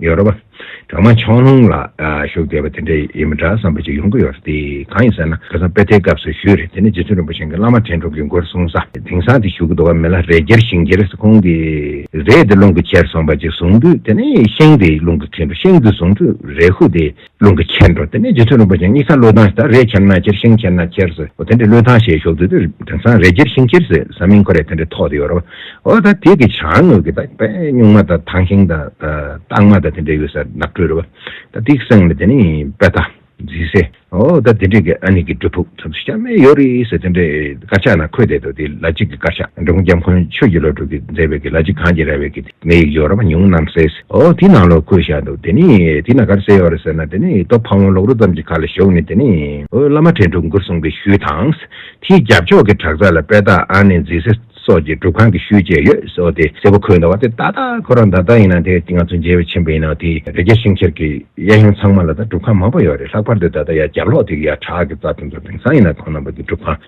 ཡོད་རེད་བ། གྲོག་མ་ཆང་ལྷུང་ལ་ཞུགས་བསྡད་པ་དེ་འདྲ་ཡིན་མི་འདྲ་བསམ་པ་ཅིག་ཡོང་གི་ཡོད་རེད་དེ་གང་ཡིན་ཟེར་ན་ཁ་སང་དཔེ་ཐལ་སྐབས་སུ་ཞུས་རེད་དེ་ནས་རྗེ་བཙུན་རིན་པོ་ཆེན་གྱི་བླ་མ་དྲན་གྲོགས་ཀྱི་མགོར་གསུངས་ས་དེང་སང་དེ་ཞུགས་ཀྱི་འདུག་བ་མི་ལ་རས་འཁྱེར་ཤིང་འཁྱེར་ཟེར་ཁོང་གི་རས་དེ་རླུང་གིས་འཁྱེར་སོང་བ་ཅིག་བཟུང་དུས་དེ་ནས་ཤིང་དེ་རླུང་གིས་ཁྱེར་འགྲོ་ཤིང་དེ་བཟུང་དུས་རས་ཤུགས་དེ་རླུང་གི་ཁྱེར་འགྲོ་དེ་ནས་རྗེ་བཙུན་རིན་པོ་ཆེ་ནི་ས་བློས་ཐང་ཞེས་ད་རེས་ཁྱེར་ན་ཁྱེར་ཤིང་ཁྱེར་ན་ཁྱེར་ཟེར་ཨོ་དེ་འདྲའི་བློས་ཐང་ཞེས་ཞོག་དུས་དེར་དེང་སང་རེས་ཁྱེར་ཤིང་ཁྱེར་ཟེར་ས་མིང་ཁོ་རེ་དེ་འདྲའི་ཐོག་དེ་ཡོད་རོ། ཨོ་ད་དེ་གི་བྱང་ངོས་ཀྱི་ད་དཔེ་སྨྱུག་མ་དང་ཐང་ཤིང་དང་རྟགས་མ་དང་དེ་འདྲའི་ཡོད་ས་ནགས་ཁྲོད་རེད་བ། ད་དེ་གི་སེང་ལ་དེ་ནི་དཔེ་ཐང། རྫི་སེ། ཨོ་ད་དེ་འདྲའི་གི་ཨ་ནི་གི་སྒྲུབ་ཕུག་ཚོམ་སེ་ཤ་མེད་ཡོད་རེད་ཟེར་དེ་འདྲའི་དཀར་ཆག་ན་ཁོད་དེ་དོ་དེ་ལ་གཅིག་གི་དཀར་ཆག་འབྲོང་རྒྱབ་འཁོན་ཆོས་ཀྱི་བློ་གྲོས་ཀྱི་མཛད་པའི་གི་ལ་གཅིག་གངས་ཀྱི་ར་བའི་གི། མི་ཡིག་སྦྱོར་རམ་ཉུང་གནམ་སའི། ཨོ་དེ་ནང་ལོགས་ཁོད་བཞག་འདུག་དེ་ནི་དེ་ན་གར་བསད་ཡོད་རེད་ཟེར་ན་དེ་ནི་ཏོ་ཕག་མོ་ལོག་རུ་ཙམ་གྱི་ཁ་ལ་ཞོག་ནི་དེ་ནི། ཨོ་བླ་མ་དྲན་གྲུབ་མགུར་གསུངས་པའི་ཤུལ་དང། དེའི་རྒྱབ་ཕྱོགས་ཀྱི་བྲག་རྩ་ལ་དཔལ་སྟག་ཨ་ནེ་མཛེས་སེ་སོགས་ཀྱི་སྒྲུབ་ཁང་གི་ཤུལ་བཅས་ཡོད་ཟེར་དེ་སེར་པོ་ཁོད་འདུག་བ་དེ་ཏག་ཏག་ཁོ་རང་འདར་ལྟ་ཡིན་ན་དེ་ང་ཚོ་མཇལ་བའི་ཆེན་པོ་ཡིན་ན་དེ་རི་རྒྱ་ཤིང་ཁྱེར་གྱི་གཡས་གཡོན་ཚང་མ་ལ་ད་སྒྲུབ་ཁང་མང་པོ་ཡོད་རེད་ལྷག་པར་དུ་ད་ལྟ་ཡ་རྒྱབ་ལོགས་དེ་གི་ཡ་བྲག་གི་རྩ་དེ་ཚོ་དེང་སང་ཡིན་ན་ཁོང་རྣམ་པ་གྱི་སྒྲུབ་ཁང།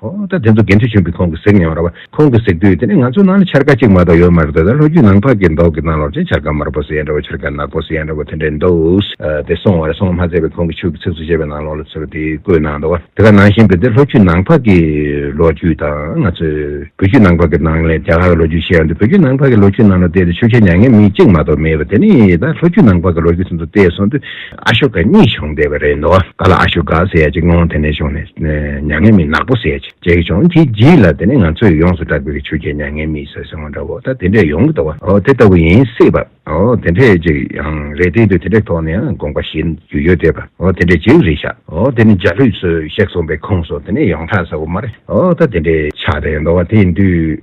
ཨོ་ད་དེ་ཚོ་དགེ་འདུན་ཆེན་པོའི་ཁོང་གི་གཟིགས་མྱོང་ར་བ་ཁོང་གི་གཟིགས་དུས་དེ་ནས་ང་ཚོའི་ནང་ལ་འཆར་ཀ་གཅིག་མ་གཏོགས་ཡོད་མ་རེད་ད་ལྷོ་རྒྱུད་ནང་ཕག་གི་མདོག་གི་ནང་ལོག་ཅིང་འཆར་ཀ་དམར་པོ་སེ་ཡན་ར་བ་འཆར་ཀ་ནག་པོ་སེ་ཡན་ར་བ་དེ་འདྲའི་འདུག་དེ་སོང་བ་རེད་སོང་མ་ཚད་པའི་ཁོང་གི་ཕྱུགས་ཀྱི་ཚིགས་སུ་བཅད་པའི་ནང་ལོག་ལ་ཚུར་དེ་བཀོད་གནང་འདུག་བ་དེ་ག་ནང་བཞིན་དུ་དེ་ལྷོ་རྒྱུད་ནང་ཕག་གི་ལོ་རྒྱུས་དང་ང་ཚོའི་བོད་རྒྱུད་ནང་ཕག་གི་ནང་ལས་རྒྱ་གར་གི་ལོ་རྒྱུས་ཤེས་ཡང་དུ་བོད་རྒྱུད་ནང་ཕག་གི་ལོ་རྒྱུས་ནང་ལ་བལྟས་དུས་ཆུ་ཁྱི་མྱ་ངན་མི་གཅིག་མ་གཏོགས་མེད་བ་དེ་ནས་ད་ལྷོ་རྒྱུད་ནང་ཕག་གི་ལོ་རྒྱུས་ཚུན་དུ་བལྟས་སོང་དུས། ཨ་ཤོ་ཀ་གཉིས་བྱུང་བསྡད་པ་རེད་འདུག་ག་ལ་ཨ་ཤོ་ཀ་ཟེར་ཡ་གཅིག་ངོ་དེ་ནས་བྱུང་ནས་མྱ་ངན་མི་ནག་པོ་ཟེར་ཡ་གཅིག་བྱུང་དེ་རྗེས་ལ་དེ་ནས་ང་ཚོས་ཡོངས་སུ་གྲགས་པའི་ཆུ་སྐྱེས་མྱ་ངན་མི་ཟེར་སོང་བ་འདྲ་བོ་ད་དེ་འདྲས་ཡོང་གི་འདུག་བ་དེ་ལྟ་བུ་ཡིན་སྲིད་པ་དེ་འདྲས་ཅིག་ཡང་རེད་དེ་དུས་དེ་འདྲས་ཐོག་ནས་ཡང་དགོངས་པ་བཞེས་རྒྱུ་ཡོད་དེ་བ་དེ་འདྲས་ཅིག་རེད་ཤག་དེ་ནས་འཇའ་ལུས་ཚོས་གཤེགས་སོང་པའི་ཁོངས་སུ་དེ་ནས་ཡོངས་གྲགས་ས་བོ་མ་རེད་དེ་འདྲས་ཆགས་བསྡད་འདུག་བ་དེ་དུས།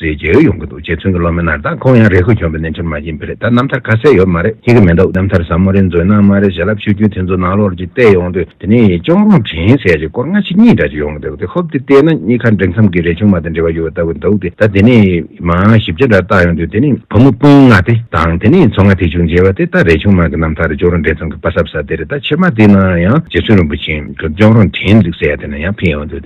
ཟེར་གྱི་ཡོང་གི་འདུག་རྗེ་བཙུན་གྱི་སློབ་མའི་ནར་ད་ཁོང་ཡང་རེ་ཁུལ་གྱོན་པའི་གནས་ཆུར་མ་བྱིན་པས་རེད་ད་རྣམ་ཐར་ཁ་གསལ་ཡོད་མ་རེད་ཤེས་ཀྱི་མི་འདུག་རྣམ་ཐར་ཟབ་མོ་རེ་མཛོད་ནང་མ་རེད་བྱིན་རླབས་ཆུ་རྒྱུན་དེ་ཚོ་ནང་ལོགས་ཀྱི་བལྟས་ཡོང་དུས་དེ་ནས་གཅོང་རོང་དྲན་ཟེར་གྱི་སྐོར་སྔ་ཕྱི་གཉིས་འདྲ་གཅིག་ཡོང་གི་འདུག་དེ་ཧོབ་སྟེ་བལྟས་ན་གཉིས་ཁ་འབྲེལ་མཚམས་ཀྱི་རས་ཆུང་མ་དང་འབྲེལ་བ་ཡོད་ལྟ་བུ་འདུག་སྟེ་ད་དེ་ནས་མང་ཞིབ་ཆ་འདྲ་བརྟག་ཡོང་དུས་དེ་ནས་བུ་མོ་སྤུན་ལྔ་དེ་དང་དེ་ནས་མཚོ་སྔ་ཐེག་ཆུང་མཇལ་བ་དེ་ད་རས་ཆུང་མ་གི་རྣམ་ཐར་གཅོང་རོང་འབྲེལ་མཚམས་ཀྱི་དཔའ་ཟབ་ས་དེ་རེད་ད་ཕྱི་མ་དེ་ནང་ཡང་རྗེ་བཙུན་རིན་པོ་ཆེ་གི་གཅོང་རོང་དྲན་ཚིག་གསལ་དེ་ནང་ཡང་ཕེབས་ཡོང་དུས་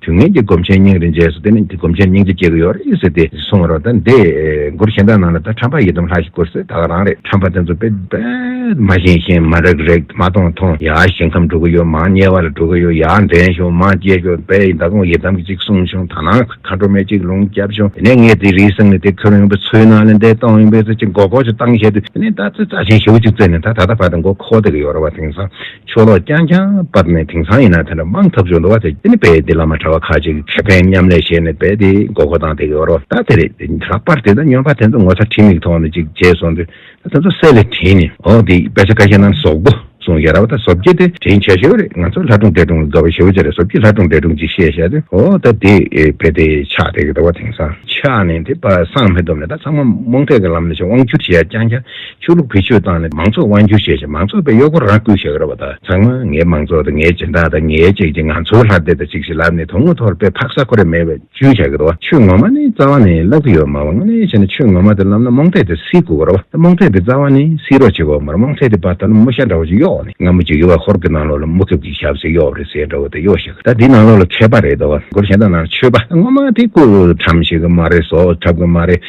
དུས་ངན་གྱི་སྒོམ་ཆེན་སྙིང་རེ་རྗེས་སུ་བསྟེན་ན་སྒོམ་ཆེན་སྙིང་རྗེ་སྐྱེ་གི་ཡོད་རེད་ཟེར་ཏེ་སོང་བ་རོགས་ད་འདི་མགུར་གཞན་དག་ནང་ལ་ད་ཁྲམ་པ་ཡི་དམ་ལྷ་ཞིག་བསྐུར་ཟེར་ད་ག་རང་རེད་ཁྲམ་པ་དེ་ཚོ་དཔེ་དཔེ་མ་བཞེངས་བཞེངས་མ་རེག་རེག་མ་མཐོང་མཐོང་ཡ་ཞིང་ཁམས་འགྲོ་གི་ཡོད་མང་དམྱལ་བ་ལ་འགྲོ་གི་ཡོད་ཡ་འདྲེན་ཞོག་མང་སྐྱེས་ཞོག་དཔལ་ཡི་མདའ་དགོང་ཡི་དམ་གྱི་ཅིག་གསུང་ཞོག་ད་ནང་མཁའ་འགྲོ་མའི་ཅིག་ལུང་སྐྱབས་ཞོག་དེ་ནས་ངས་དེ་རིའི་གསེང་ནས་དེ་ཁྱོད་རང་ཡོང་པའི་ཚུལ་ནང་ལ་འདེད་གཏོང་ཡོང་པའི་ཚུལ་གྱི་མགོ་སྐོར་ཅིག་བཏང་བཞེད་དུས་དེ་ནས་ད་ཚེ་རྩ་ཆེན་ཞེ་བོ་ཅིག་བཙལ་ནས་ད་ད་ལྟ་བར་དུ་མགོ་འཁོར་བསྡད་ཀྱི་ཡོད་རེད་བ་དེང་སང་ཆོ་ལོ་རྐྱང་རྐྱང་བབས་ནས་དེང་སང་ཡིན་ན་དེ་འདྲ་མང་ཐབས་བྱུང་འདུག་བ་དེ་ནི་དཔེ་དེ་ལ་མ་གྲགས་བ་ཁ་ཅིག་ཁེ་ཕན་མཉམ་ལས་བྱས་ནས་དཔེ་དེ་མགོ་སྐོར་སྟངས་དེ་གི་རོ་ད་དེ་རེད་དེ་ལྷག་པར་དེ་ལྟར་སྨྱོན་པ་དེ་ཚོ་ངོ་ཚ་ཁྲིད་མིག་ཐོག་ནས་ཅིག་བྱས་སོང་དུས་ད་དེ་ཚོ་གསལ་ལེར་དྲན་ནས་ཨོ་དེ་དཔེ་ཆ་ཀ་ཤས་རྣམས་ཟོག་པོ་གསུངས་ཞེས་ར་བ་ད་ཟོབ་རྒྱལ་དེ་དྲན་ཆེ་ཤོས་རེད་ང་ཚོ་ལྷ་སྒྲུང་དཔེ་སྒྲུང་གི་དགའ་བ་ཞི་བ་ཅན་རེད་ཟོབ་རྒྱལ་ལྷ་སྒྲུང་དཔེ་སྒྲུང་ཅིག་བཤད་བྱས་དུས་ཨོ་ད་དེ་དཔེ་དེ་ཆགས་དེ་གི་འདུག་བ་དེང་སང། ཆགས་ནས་དེ་པ་སངས་མི་འདུག་མེད་ད་ཚང་མ་རྨོངས་དད་ཀི་ལམ་ནས་ཆོས་དབང་བསྒྱུར་བྱས་ཡ་རྐྱང་རྐྱང་ཆོས་ལུགས་བེད་སྤྱོད་བཏང་ནས་མང་ཚོགས་དབང་བསྒྱུར་བྱས་ཤིང་མང་ཚོགས་པའི་གཡོག་པོར་རང་བསྐུལ་བྱེད་ཀྱི་རེད་པ་དང་ཚང་མ་ངའི་མང་ཚོགས་དང་ངའི་སྦྱིན་བདག་དང་ངའི་བཅས་ཀྱིས་ང་ཚོའི་ལྷ་སྡེ་དང་གཅིག་ཞིག་ལབ་ནས་དོན་དངོས་ཐོག་ལ་དཔེ་ཕག་ས་ཁོ་རེ་མེད་པའི་བཅུན་བྱ་གི་རེད་བ་ཆོས་ངོ་མ་ནི་རྩ་བ་ནས་བསླབ་གི་ཡོད་མ་བ་དངོས་གནས་བྱས་ན་ཆོས་ངོ་མ་དེ་བསླབ་ན་རྨོངས་དད་དེ་སེལ་དགོས་གི་རེད་བ་ད་རྨོངས་དད་དེ་རྩ་བ་ནས་སེལ་རོགས་བྱེད་དགོས་གི་མ་རེད་རྨོངས་དད་དེ་བ་ད་ལོ་མོ་ཤ་འདྲ་བ་ཅིག་གཡོག་ནས་ང་མོ་ཇི་གི་བ་ཧོར་གི་ནང་ལོགས་ལ་མུ་གེབ་ཀྱི་ཞབས་སེ་གཡོག་རེད་ཟེར་འདྲ་བ་དེ་གཡོག་ཤེས་གི་ད་དེ་ནང་ལོགས་ལ་མཁས་པ་རེད་བ་སྒོར་གཞན་དག་ནང་ལ་ཆོས་པ་དངོས་མ་དེ་སྐུ་དྲམ་ཤེས་གི་མ་རེད་བཟོ་གྲབ་གི་མ་རེད།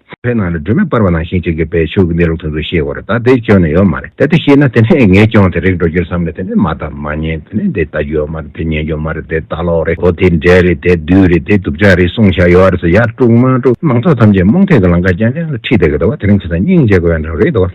ཚེ་འཕེལ་ནང་ལ་སྒྲོལ་མས་སྤར་བ་ནང་བཞིན་ཅིག་གི་བེད་སྤྱོད་ཀྱི་གནས་ལུགས་དེ་ཚོ་ཤེས་དགོས་རེད་ད་དེ་སྐྱོན་ནི་ཡོད་མ་རེད་དེ་དེ་ཤེས་ན་དེ་ནས་ངས་སྐྱོན་དེ་རིགས་འགྲོ་རྒྱུར་བསམ་ནས་དེ་ནས་མ་བལྟ་མ་ཉན་དེ་ནས་དེ་ལྟ་རྒྱུ་ཡོད་མ་རེད་དེ་ཉན་རྒྱུ་མ་རེད་དེ་ལྟ་ལོག་རེད་ཨོ་དེ་འདྲས་རེད་དེ་བདུད་རེད་དེ་གདུག་ཅག་རེད་གསུངས་བཞག་ཡོད་རེད་ཟེར་ཡར་དཀྲུགས་མར་དཀྲུགས་མང་ཚོགས་ཐམས་ཅད་རྨོངས་དད་ཀྱི་ལང་ཀ་རྐྱང་རྐྱང་ལ་ཁྲིད་བསྡད་གི་འདུག་བ་དེ་རིང་ཁྱེད་ཚོ་སྙིང་རྗེ་དགོས་ཡ་འདྲ་བ་རེད་འདུག་བ།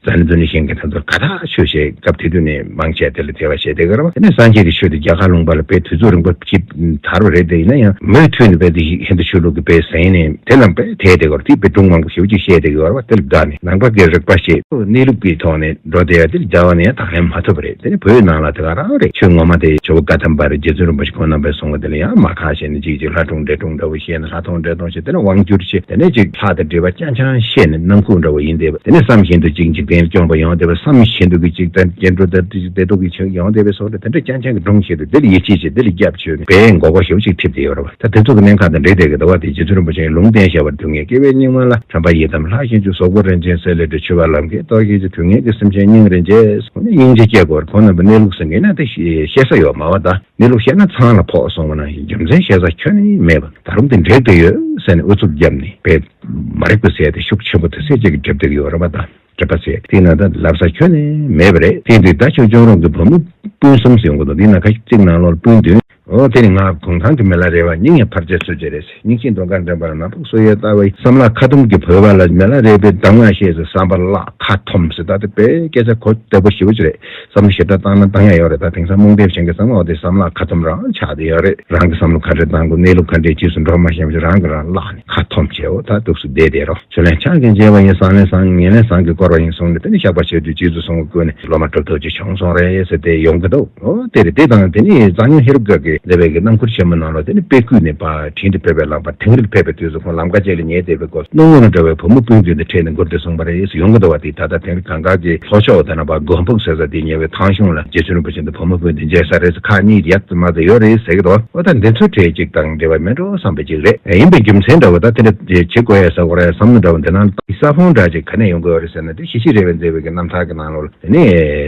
རྩ་ནི་རྡུལ་ནི་གཞན་གྱི་དོན་དུ་ཀ་དག་ཆོས་བཤད་སྐབས་དེ་དུས་ནས་མང་ཆེ་བ་དེ་ལ་དད་པ་བྱེད་དེ་ཀརྨ་དེ་ནི་སངས་རྒྱས་ཀྱི་ཆོས་དེ་རྒྱ་གར་ལུང་པ་ལ་དཔེ་དུས་ཚོད་རིང་པོ་ཅིག་དར་བ་རེད་དེ་ཡིན་ན་ཡང་མུས་མཐུས་ནས་དཔེ་དེ་ཞིག་ཧིན་དུ་ཆོས་ལུགས་ཀྱི་དཔེ་གཟེངས་ནས་དེ་ལ་དཔེ་དད་དེ་ཀར་དེའི་དཔེ་སྒྲུང་མང་པོ་ཞེ་བོ་ཅིག་བཤད་དེ་ཀར་བ་དེ་ལ་བདག་ནི་ནང་པ་ཀའི་རིག་པ་ཞེས་གནས་ལུགས་ཀྱི་ཐོག་ནས་འགྲོ་བདེ་བ་དེ་ལ་རྒྱ་བ་ནས་ཡང་དག་ལེན་མ་ཐུབ་པ་རེད་དེ་ནི་བོད་ནང་ལ་དེ་ག་རང་རེད་ཆོས་ངོ་མ་དེ་ཇོ་བོ་བཀའ་ཐམས་པ་རེད་རྗེ་བཙུན་རིན་པོ་ཆེ་ཁོང་རྣམ་པས་གསུང་བ་དེ་ལ་ཡང་མ་ཁག་བྱས་ནས་ཅིག་ཅིག་ལྷ་སྒྲུང་འདྲེ་སྒྲུང་འདྲ་བོ་བཤད་ན། ད་མཐོང་འདྲེ་མཐོང་ཞེས་དེ་ནས་དབང་བསྒྱུར་ཅེས་དེ་ནས་ཅིག་ལྷག་དེ་འདྲེ་བ་ཅང་ཅང་ཤེས་ནས་ནམ་ཁུག་འདྲ་བ་ཡིན་འདས་པ་དེ་ནས་བསམ་བཞིན་དུ་ཅིག་འཇིག་རྟེན་སྐྱོང་པ་ཡང་འདས་པ་བསམ་བཞིན་དུ་གི་ཅིག་དང་སྐྱེ་འགྲོ་དང་ཅིག་བདེ་སྡུག་གི་ཆགས་ཡང་འདས་པའི་སོགས་འདྲ་དེ་འདྲ་ཅང་ཅང་གི་སྒྲུང་ཞིག་ཏུ་འདིར་ཡིད་ཆེས་ཅིག་འདིར་སྐྱབས་བཅོལ་ནས་པའི་མགོ་སྐོར་ཞེས་པ་ཅིག་ཁྲིད་དེ་ཡོད་རབས་ད་དེ་ཚོ་གི་གནས་ཁང་དང་འདྲེ་དེ་གི་ཟླ་བ་དེ་རྗེ་བཙུན་རིན་པོ་ཆེའི་ལུང་བསྟན་བཤད་པར་དུས་ངན་སྐྱེ་བའི་སྙིགས་མ་ལ་དྲན་པ་ཡི་དམ་ལྷ་གཤིན་རྗེ་ཟོག་པོ་རིན་ཆེན་གསེར་ལས་འབྲི་ཆུ་བ་ལམ་མཁའི་གཏོར་བཤིག་ཅིག་དུས་ངན་གྱི་སེམས་ཅན་སྙིང་རེ་འཇེབས་སོ་ནས་སྙིང་རྗེ་སྐྱེས་སྐོར་ཁོང་རྣམ་པའི་གནས་ལུགས་སེང་གེ་ན་དེ་ཤེས་ས་ཡོད་མ་བ་ད། གནས་ལུགས་བཤད་ན་ཚང་ལ་ཕོག་སོང་བ་ན་རྒྱུ་མཚན་བཤད་ས་ཁྱོན་ནས་མེད་པ་ད་རུང་དེ་འདྲའི་དགོས་ཡོད་ཟེར་ནས་ཨུ་ཚུགས་བརྒྱབ་ནས་པད་མ་རེ་བསྐུལ་ཟེར་ཏེ་ཤུགས་ཆེན་པོ་དེ་སེ་གཅིག་གི་སྒྲིབ་སྡུག་ཡོད་རེད་པ་དང་སྒྲིབ་པ་ཟེར་ཏེ་ན་ད་ལབ་ས་ཁྱོན་ནས་མེད་པ་རེད་དེ་འདི་ད་ཆོས་འབྱུང་རོང་གི་བུ་མོ་སྤུན་གསུམ་ཟེར་ཡོང་གི་འདུག་འདི་ན་ཁ་ཤུགས་གཅིག་ནང་ལོར་སྤུན་བདུན་འོང་དེ་ནི་ང་གུང་ཐང་གི་མི་ལ་རེ་བ་སྙིང་ཡང་འཕར་རྩེ་ཚུལ་བྱེད་རེད། སྙིང་ཤིང་མདོག་དཀར་འདྲེན་པར་ནག་ཕུག་སོ་ཡོལ་བལྟ་བའི་བསམ་ལ་ཁ་ཐུམ་གྱི་བོད་པ་ལ་མེ་ལ་རས་པའི་གདམས་ངག་ཤེས་ཟེར་བསམ་པར་བརླག་ཁ་ཐུམ་ཟེར་ད་དེ་བོད་ཡིག་སྐད་ཆ་གོ་བདེ་པོ་ཞིག་རེད་བསམ་བློ་ཞིབ་ཕྲ་བཏང་ན་གདམས་ངག་ཡོད་རེད་ད་དེང་སང་རྨོངས་དད་ཅན་གྱི་བསམ་བློ་དེ་བསམ་བརླག་ཁ་ཐུམ་རང་ཆགས་བསྡད་ཡོད་རེད་རང་གི་བསམ་བློ་ཁ་བྲལ་བཏང་དགོས་གནས་ལུགས་ཁ་འབྲལ་གྱིས་སུ་འགྲོ་མ་ཤེས་པ་ཞིག་རང་གིས་རང་བརླག་ནས་ཁ་ཐུམ་བྱེད་འོ་ད་སྡུག་སུ་བསྡད་བསྡད་རོགས། ཆུ་ལེན་ཕྱག་རྒྱ་འཇལ་བ་ཡིན་ཟངས་ལེན་ཟངས་ངན་ལེན་ཟངས་ཀྱིས་བསྐོར་བ་ཡིན་གསུངས་ནས་དེ་ནས་བཤགས་པ་བྱས་དུས་རྗེས་སུ་གསུང་བར་བསྐུལ་ནས་སློབ་མ་གྲུབ་ཐོབ་ཅིག་བྱུང་སོང་རེད་ཟེར་ཏེ་ཡོང་གི་འདུག་ཨོ་དེ་རེད་དེ་དང་དེ་ནས་འཛམ་གླིང་ཧེ་རུ་ཀ་གི་ལས་བེད་ཀྱི་རྣམ་འཁོར་ཆེན་མོ་གནང་ལོ་དེ་ནས་དཔེ་བསྐུལ་ནས་པར་འཕྲིན་དུ་ཕེབས་པའི་ལམ་བར་དིང་རིར་ཕེབས་པའི་དུས་སུ་ཁོང་ལམ་ཁ་ཅིག་ལ་ཉལ་སྡོད་པའི་སྒོ་སྣུམ་སྔོན་ལ་འགྲོ་བའི་བུ་མོ་སྤུན་བདུན་དེ་འཕྲད་ནས་མགུར་འདི་གསུངས་པ་རེད་ཡོང་གི་འདུག་བ་དེས་ད་ལྟ་དིང་རི་གངས་དཀར་གྱི་ལྷོ་ཕྱོགས་འོ་ད་ན་བ་སྒོམ་ཕུག་ཟེར་ས་དེའི་ཉེ་བའི་ཐང་གཞུང་ལ་རྗེ་བཙུན་རིན་པོ་ཆེ་འདུ་བུ་མོ་བུ་འདི་མཇལ་ས་རེད་ཁག་གཉིས་ཡག་ཙམ་མ་རྩེ་ཡོད་རེད་ཟེར་གི་འདུག་བ་ད་འདི་ཚོ་གྲས་གཅིག་དང་འབྲེལ་བ་མེད་འགྲོ་བསམ་པ་ཅིག་རེད་ཡིན་པའི་རྒྱུ་མཚན་འདྲ་བོ་ད་དེ་འདྲ་བྱེད་དགོས་ཡ་ས་གོ་ར་ཡ་བསམ་བློ་འདྲ་བོ་འདི་ནང་དུ་ས་ཕུང་འདྲ་ཅིག་ག་ནས་ཡོང་དགོས་རེད་ཟེར་ན་དེ་གཞི་གཅིག་རེད་བས་མཛེས་བོད་ཀྱི་རྣམ་ཐར་གྱི་ནང་ལོ་དེ་ནས་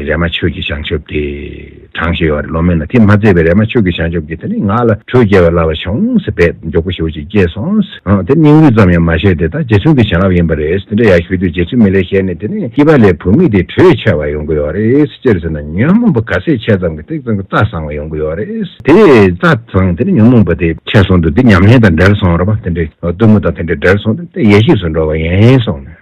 རས་མ་ཆོས་ཀྱི་བྱང་ཆུབ་དེ་དྲངས་བཞིན་ཡོད་རེད་ལོ་མེད་ན་དེ་མ་མཛེས་བས་རས་མ་ཆོས་ཀྱི་བྱང་ཆུབ་ཀྱི་དེ་ནས་ང་ལ་འཕྲུལ་རྒྱལ་བའི་བླ་བ་བྱུང་ཟེར་བས་མགྱོགས་པོ་ཞུ་བ་ཅིག་སྐྱེས་སོང། དེ་སྙིང་རུས་ཙམ་ཡང་མ་བཤད་དེ་ད་རྗེ་བཙུན་གྱི་བྱིན་རླབས་ཡིན་པ་རེད་དེ་འདྲ་ཡག་ཤོས་དུས་རྗེ་བཙུན་མི་ལས་ཤེས་ནས་དེ་ནས་སྐྱིད་པ་ལས་བུད་མེད་དེ་དྲོད་ཆེ་བ་ཡོང་གི་ཡོད་རེད་སྤྱིར་ཟེར་ན་ཉོན་མོངས་པ་ག་ཚད་ཆད་ཙམ་གྱི་ཐེག་ཙམ་གྱི་རྩ་བཟང་བ་ཡོང་གི་ཡོད་རེད་དེ་རྩ་བཟང་དེ་ནས་ཉོན་མོངས་པ་དེ་ཆད་སོང་དུས་དེ་ཉམས་ལེན་དང་འབྲལ་སོང་རོ་བ་དེ་འདྲའི་གཏུམ་མོ་དང་དེ་འདྲ་འབྲལ་སོང་དུས་དེ་ཡེ་ཤེས་སུ་འགྲོ་བ་ཡིན་སོང་ནས།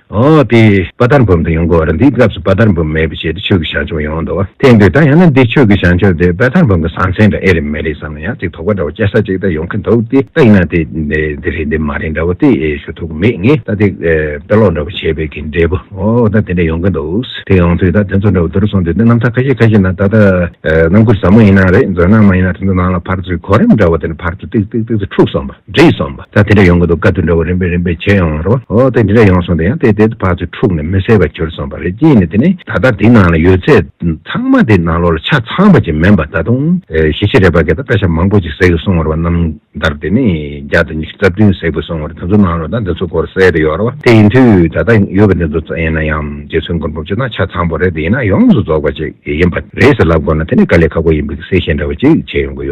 འོ་དེ། དཔའ་དར་འབུམ་དུ་ཡོང་གི་འོ་རེད་འདིའི་སྐབས་སུ་དཔའ་དར་འབུམ་མེད་པའི་ཆེད་དུ་ཆོས་ཀྱི་བྱང་ཆུབ་ཡོང་འདུག་ཐེངས་འདིར་ད་ཡང་ན་འདི་ཆོས་ཀྱི་བྱང་ཆུབ་དེ་དཔའ་དར་འབུམ་གྱི་ཟང་ཟིང་འདྲ་ཨེ་རེད་མེད་རེད་བསམ་ན་ཡང་ཅིག་དོགས་པ་འདྲ་བོ་སྐྱེ་ས་ཅིག་ད་ཡོང་གི་འདུག་སྟེ་ད་ཡིན་ན་དེ། འདི་རེད་འདི་མ་རེད་འདྲ་བོ་དེ་ཞུ་ཐུབ་ཀྱི་མེད་ངེས་ད་དེ། དཔེ་ཀློག་འདྲ་བོ་བྱེད་པའི་གི་འབྲས་བུ་འོ་ད་དེ་འདྲ་ཡོང་གི་འདུག་དེ་ཡོང་དུས་ད་དེ་ཚོ་འདྲ་བོ་འདི་རུ་སོང་དུས་དེ་རྣམ་ཐར་ཁ་ཤས་ཁ་ཤས་ན་ད་ལྟ། རྣམ་ཀུན་ཟབ་མོ་ཡིན་ན་རེད་མཛོད་ནང་མ་ཡིན་ན་དེ་ཚོ་ནང་ལ་ཕར་ཚུར་གོ་རིམ་འདྲ་བོ་དེ་ནས་ཕར་ཚུར་ཏིག་ཏིག་ཏིག་ཏིག་འཁྲུགས་སོང་བ། རེད་བསམ་པ་ད་དེ་འདྲ་ཡོང་གི་འདུག་སྐབས་དེ་འདྲ་བོ་རིམ་པས་རིམ་པས་བྱས་ཡོང་བ་རེད་བ། འོ་དེ་འདྲ་ཡོང་སོང་དེ་ཡང་དེ་དེ་བར་དུ་འཁྲུགས་ནས་མི་གསལ་བར་གྱུར་སོང་བ་རེད་གཅིག་ནི་དེ་ནི་ད་ལྟ་དེ་ནང་ལ་ཡོད་ཚད་ཚང་མ་དེ་ནང་ལོགས་ལ་ཆ་ཚང་བ་ཅིག་མིན་པར་ད་དུང་ཞེ་ཆེ་རེད་བ་གད་ད་བཀའ་ཤག་མང་པོ་ཅིག་ཟེགས་སོང་བ་རེད་བ་རྣམ་ཐར་དེ་ནི་བརྒྱ་དང་ཉི་ཤུ་རྩ་བདུན་ཟེགས་པོ་སོང་བ་རེད་དེ་ཚོ་ནང་ལོགས་ད་འདི་ཚོ་སྐོར་གསལ་དུ་ཡོད་རེད་བ་དེ་ཡིན་དུས་ད་ལྟ་ཡོད་བ་འདི་ཚོ་ཙམ་ཡིན་ན་ཡང་རྗེ་བཙུན་མགོན་པོ་ཇི་ལྟར་ཆ་ཚང་བ་རེད་དེ་ཡིན་ན་ཡོངས་སུ་རྫོགས་པ་ཅིག་ཡིན་པ་རེད་ཟེར་ལབ་དགོས་ན་དེ་ནི་དཀའ་ལས་ཁག་པོ་ཡིན་པའི་གསལ་བཤད་འདྲ་བོ་ཅིག་བྱས་ཡོང་གི་ཡོད།